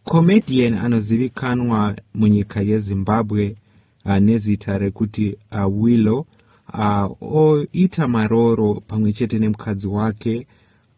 Comedian anozivikanwa munyika yeZimbabwe uh, nezita rekuti uh, Willow uh, oita marooro pamwe chete nemukadzi wake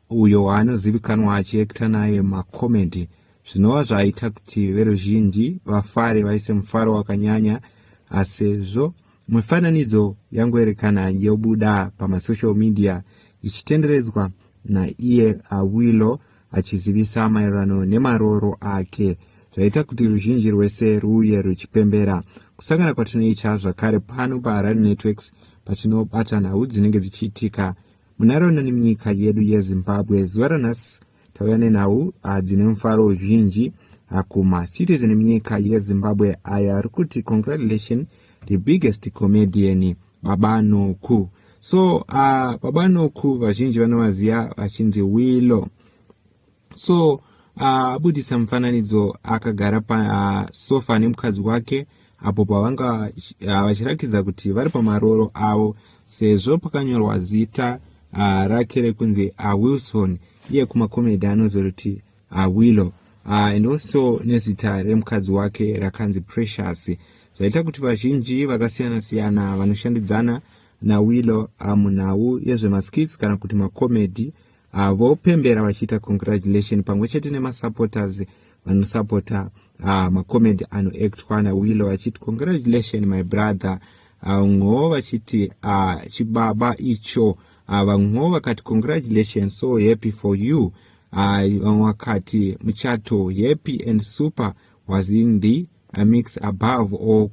uyo waanozivikanwa achiekta naye macomedy zvinova zvaita kuti veruzhinji vafare vaise mufaro wakanyanya asezvo uh, mifananidzo yangoerekana yobuda pamasocial media ichitenderedzwa naiye awilo uh, achizivisa maererano nemarooro ake zvaita kuti ruzhinji rwese ruuye ruchipembera kusangana kwatinoita zvakare pano paharare networks patinobata nhau dzinenge dzichiitika munharaunda nemunyika yedu yezimbabwe zuva ranhasi tauya nenhau ah, dzine mufaro uzhinji ah, kumacitizen emunyika yezimbabwe aya ari kuti congratulation the biggest comedian baba noku so uh, baba noku vazhinji vanovaziva vachinzi wilo so ah, abudisa uh, mufananidzo akagara pasofa ah, uh, nemukadzi wake apo pavanga vachirakidza uh, kuti vari pamarooro avo sezvo pakanyorwa zita uh, rake rekunzi awilson uh, iye kumakomedi anozoti uh, willow uh, and also nezita remukadzi wake rakanzi precious zvaita kuti vazhinji vakasiyana siyana vanoshandidzana nawillow uh, munhau yezvemaskits kana kuti macomedy uh, vopembera vachiita congratulation pamwe chete nemasupporters vanosupporta uh, macomedy anoactwa nawillow vachiti congratulation my brother vamwewo uh, vachiti uh, chibaba icho uh, vamwewo vakati congratulation so happy for you Hai vamwe vakati muchato happy and super was in the uh, mix above or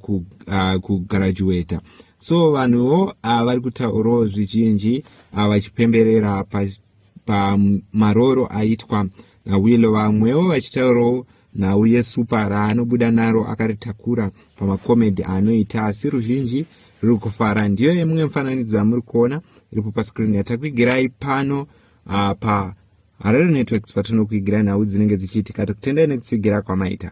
kugraduata uh, so vanhuwo uh, vari kutaurawo zvizhinji uh, vachipemberera pamarooro pa aitwa nawilo vamwewo vachitaurawo nhau yesupa raanobuda naro akaritakura pamakomedi anoita asi ruzhinji ruri kufara ndiyo yemumwe mifananidzo yamuri kuona iripo paskrini yatakuigirai pano ah, pa harare networks patinokuigirai nhau dzinenge dzichiitika tikutendai nekutsigira kwamaita